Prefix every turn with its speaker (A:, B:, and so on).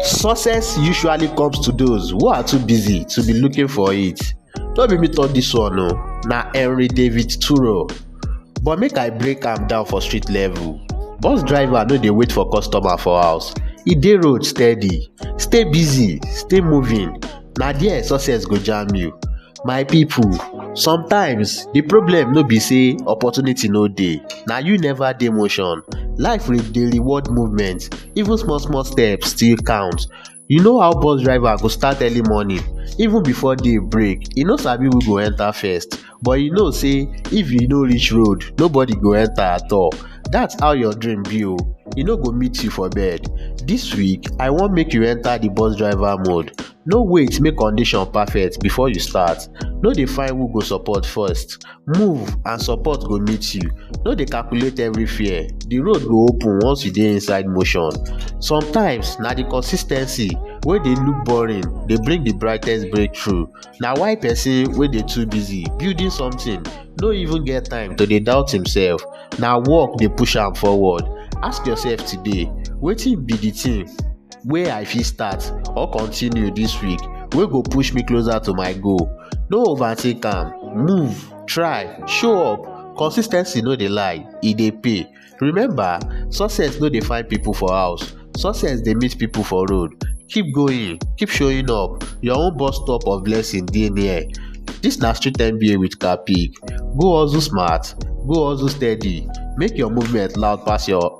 A: Success usually comes to those who are too busy to be looking for it. No be me talk this one o, oh. na Henry David Thoreau. But make I break am down for street level. Bus driver no dey wait for customer for house, e dey road steady. Stay busy, stay moving, na there success go jam you. My people, sometimes the problem no be say opportunity no dey, na you never dey motion. Life re- dey reward movement, even small small steps still count. You know how bus driver go start early morning, even before day break, e no sabi who go enter first, but e know say if e no reach road, nobody go enter at all. That's how your dream be o, e no go meet you for bed. This week, I wan make you enter the bus driver mode. No wait make condition perfect before you start, no dey find who go support first, move and support go meet you, no dey calculate every fear, the road go open once you dey inside motion. Sometimes na the consis ten cy wey dey look boring dey bring the brightest breakthrough, na why person wey dey too busy building something no even get time to dey doubt himself, na work dey push am forward. Ask yourself today, wetin be the thing wey i fit start or continue this week wey go push me closer to my goal no overthink am move try show up consis ten cy no dey lie e dey pay remember success no dey find people for house success dey meet people for road keep going keep showing up your own bus stop of blessing dey near this na street nba with kapig go hustle smart go hustle steady make your movement loud pass your